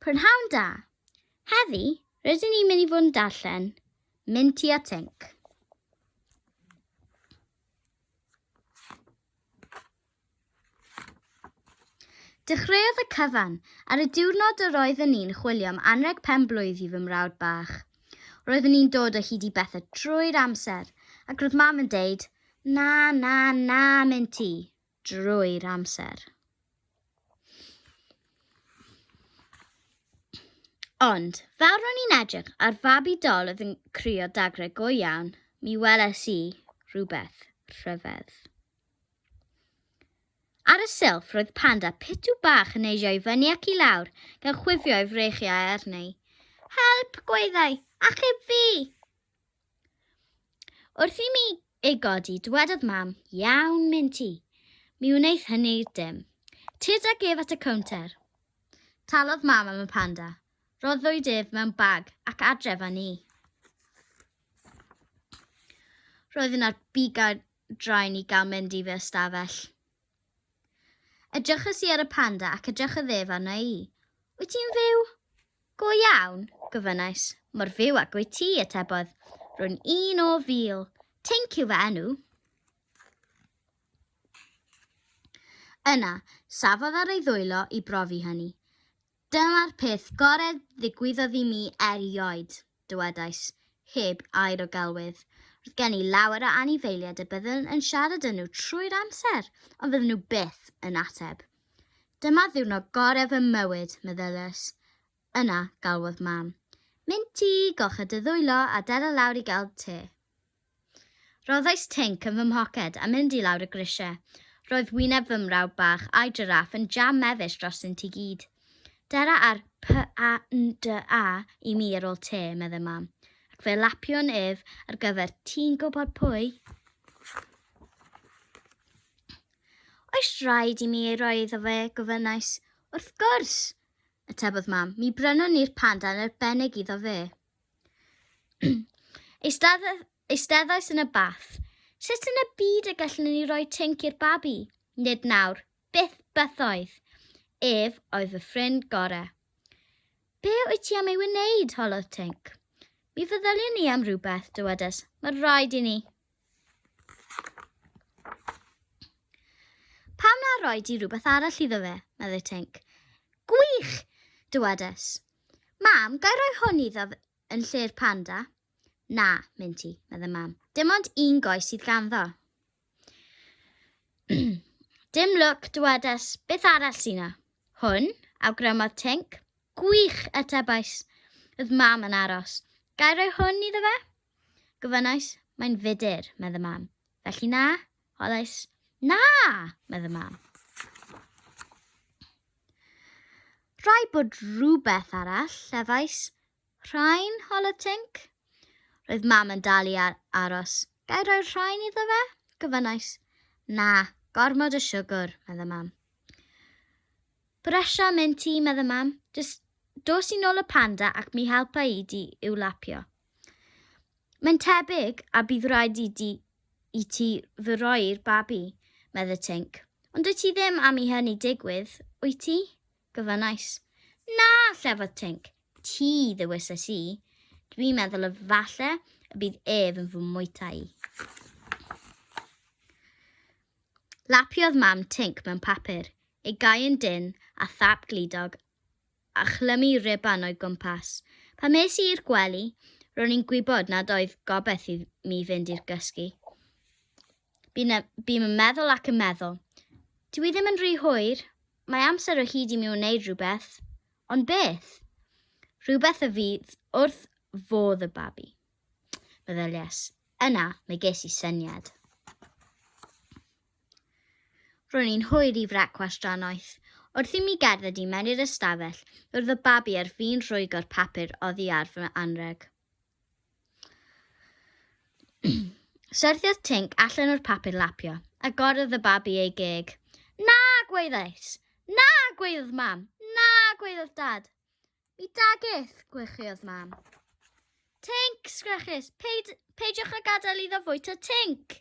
Prynhawn da! Heddi, rydyn ni'n mynd i fod yn darllen Minty a Tink. Dechreuodd y cyfan ar y diwrnod yr oeddwn ni'n chwilio am anreg pen-blwydd i fy mrawd bach. Roeddwn ni'n dod o hyd i bethau drwy'r amser, ac roedd mam yn deud, Na, na, na, Minty. drwy'r amser. Ond, fel ro'n i'n edrych ar fabi dol oedd yn crio dagre go iawn, mi weles i rhywbeth rhyfedd. Ar y silff roedd panda pitw bach yn eisio i fyny ac i lawr, gan chwifio ei freichiau arni. Help, gweithau, achub fi! Wrth i mi ei godi, dywedodd mam, iawn, mynd ti. Mi wneith hynny dim. Tyd ag ef at y cownter. Talodd mam am y panda. Roddwyd ef mewn bag ac adref â ni. Roedd yna'r bigau draen i gael mynd i fy ystafell. Edryches i ar y panda ac edrychodd ef arna i. Wyt ti'n fyw? Go iawn, gofynnais. Mor fyw ag wyt ti, atebodd. Rwy'n un o fil. Tink yw fy enw. Yna, safodd ar ei ddwylo i brofi hynny. Dyma'r peth gorau ddigwyddodd i mi erioed, dywedais, heb air o gelwydd. Roedd gen i lawer o anifeiliaid y byddwn yn siarad â nhw trwy'r amser, ond fydden nhw byth yn ateb. Dyma ddiwrnod gorau fy mywyd, meddylais. Yna, galwodd Mam. Mynd ti, golcha dy ddwylo a dala lawr i gael te. Rhoddais tync yn fy mhoced a mynd i lawr y grisiau. Roedd wyneb fy mrawd bach a'i jiráff yn jam mefus drostynt i gyd. Dera ar PANDA i mi ar ôl te, meddai Mam, ac fe lapiwn ef ar gyfer ti'n gwybod pwy. Oes rhaid i mi ei roi iddo fe? gofynnais. Wrth gwrs! atebodd Mam. Mi brynwn ni'r panda yn arbennig iddo fe. Eisteddais yn y bath. Sut yn y byd y gallwn ni roi tync i'r babi? Nid nawr. Byth bythoedd. Ef oedd fy ffrind gore. Be wyt ti am ei wneud? holodd tync. Mi feddyliwn ni am rhywbeth, dywedes. Mae rhaid i ni. Pam na roi di rhywbeth arall iddo fe, meddai Tink. Gwych! dywedais. Mam, gai roi hwn iddo yn lle'r panda? Na, Minty, meddai mam. Dim ond un goes sydd ganddo. Dim lwc, dywedais. Beth arall sy'n na? Hwn, awgrymodd Tink. Gwych, atebais. Oedd mam yn aros. Gai roi hwn iddo fe? Gofynnais, Mae'n fudur, medd y mam. Felly na? Holais, Na! medd y mam. Rhai bod rhywbeth arall, llefais. Rhain, hol y tinc. Roedd mam yn dal i ar aros. Gai roi'r rhain iddo fe? Gyfynnais. Na, gormod o siwgr, medd y mam. Bresha mynd ti, medd y mam. Just dos i nôl y panda ac mi helpa i di i'w lapio. Mae'n tebyg a bydd rhaid i, di, i ti fy roi'r babi, medde Tink. Ond wyt ti ddim am i hynny digwydd, wyt ti? Gofynnais. Na, llefodd Tink. Ti, ddewises i. Dwi'n meddwl y falle y bydd ef yn fy mwyta i. Lapiodd mam Tink mewn papur, ei gau yn dyn a thap glidog a chlymu ruban o'i gwmpas. Pan es i i'r gwely, ro'n i'n gwybod nad oedd gobeith i mi fynd i'r gysgu. Bu'n bu yn meddwl ac yn meddwl. Dw i ddim yn rhy hwyr, mae amser o hyd i mi wneud rhywbeth. Ond beth? Rhywbeth y fydd wrth fodd y babi. Meddylies. Yna, mae ges i syniad. Ro'n i'n hwyr i frecwast drannoeth. Wrth i mi gerdded i mewn i'r ystafell, roedd y babi ar fin rhwygo'r papur oddi ar fy anrheg. Syrthiodd Tinc allan o'r papur lapio, a gorodd y babi ei geg. Na, gwaeddais! Na, gwaeddodd mam! Na, gwaeddodd dad! Mi dageth, gwychiodd mam. Tinc, sgreches, peidiwch â gadael iddo fwyta Tinc!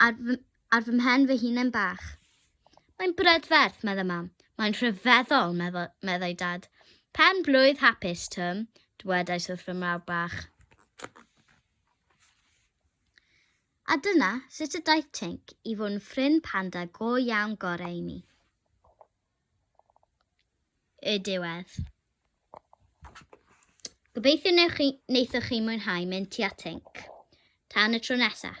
ar fy, ar fy mhen fy hunen bach. Mae'n brydferth, meddai mam. Mae'n rhyfeddol, meddai dad. Pen blwydd hapus, Twm, dwedais wrth fy mrawd bach. A dyna sut y daeth Tink i fod yn ffrind panda go iawn gorau i mi. Y diwedd. Gobeithio wneithoch chi mwynhau mynd tua Tink. Tan y tro nesaf.